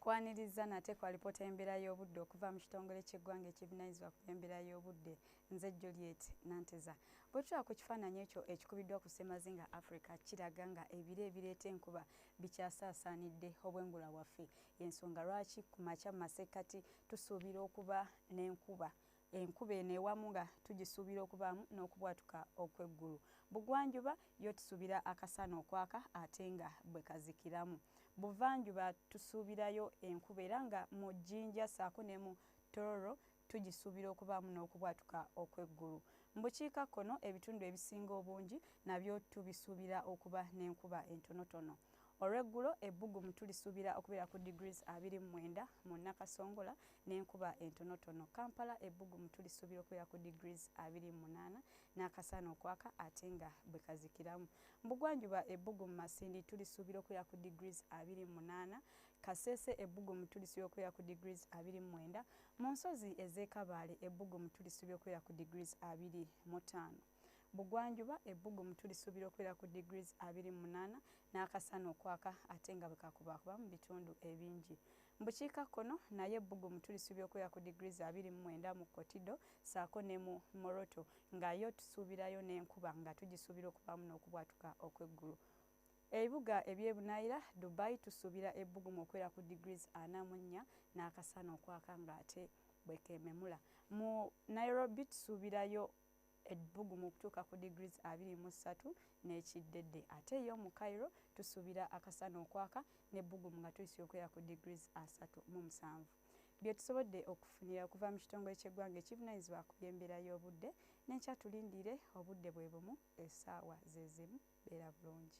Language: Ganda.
Kwaniriza nate kwa alipoota y'embeera y'obudde okuva mu kitongole ky'eggwanga ekivunanyizibwa ku by'embeera y'obudde nze Juliet Nanteza. Bwe tulaba ku kifaananyi ekyo ekikubiddwa ku ssemazinga Africa kiraga nga ebire ebireeta enkuba bikyasaasaanidde obwengula waffe. Y'ensonga lwaki ku makya mu masekkati tusuubira okuba n'enkuba. enkuba eno ewamu nga tugisuubira okubaamu n'okubwatuka okw'eggulu bugwanjuba yo tusuubira akasana okwaka ate nga bwe kazikiramu buvanjuba tusuubirayo enkuba era nga mu jjinja saako ne mu tororo tugisuubira okubaamu n'okubwatuka okw'eggulu mu bukiika kkono ebitundu ebisinga obungi nabyo tubisuubira okuba n'enkuba entonotono olweggulo ebbugumu tulisuubira okubeera ku degrees 29 mu nakasongola n'enkuba entonotono kampala ebbugumu tulisuubira okubeera ku degrees 28 n'akasaana okwaka ate nga bwe kazikiramu mbugwanjuba ebbugumu masindi tulisuubira okubeera ku degrees 28 kaseese ebbugumu tulisuubira okubeera ku degrees 29 mu nsozi ez'ekabaale ebbugumu tulisuubira okubeera ku degrees 25 bugwanjuba ebbugumu tulisuubira okubeera ku degrees 28 n'akasana okwaka ate nga bwe kakubaakuba mu bitundu ebingi mu bukiika kkono naye ebbugumu tulisuubira okubeera ku degrees 29 mu kotido saako ne mu moroto nga yo tusuubirayo n'enkuba nga tugisuubira okubaamu n'okubwatuka okw'eggulu ebibuga ebyebunayira dubai tusuubira ebbugumu okubeera ku degrees 44 n'akasana okwaka ng'ate bwekememula mu nairobi tusuubirayo ebbugumu okutuuka ku degrees 23 n'ekiddedde ate yo mu Cairo tusuubira akasana okwaka n'ebbugumu nga tuyisira okwera ku degrees 3 mu musanvu byetusobodde okufunira okuva mu kitongole ky'eggwanga ekivunanyizibwa ku by'embeera y'obudde n'enkya tulindiire obudde bwe bumu essaawa zezimu beera bulungi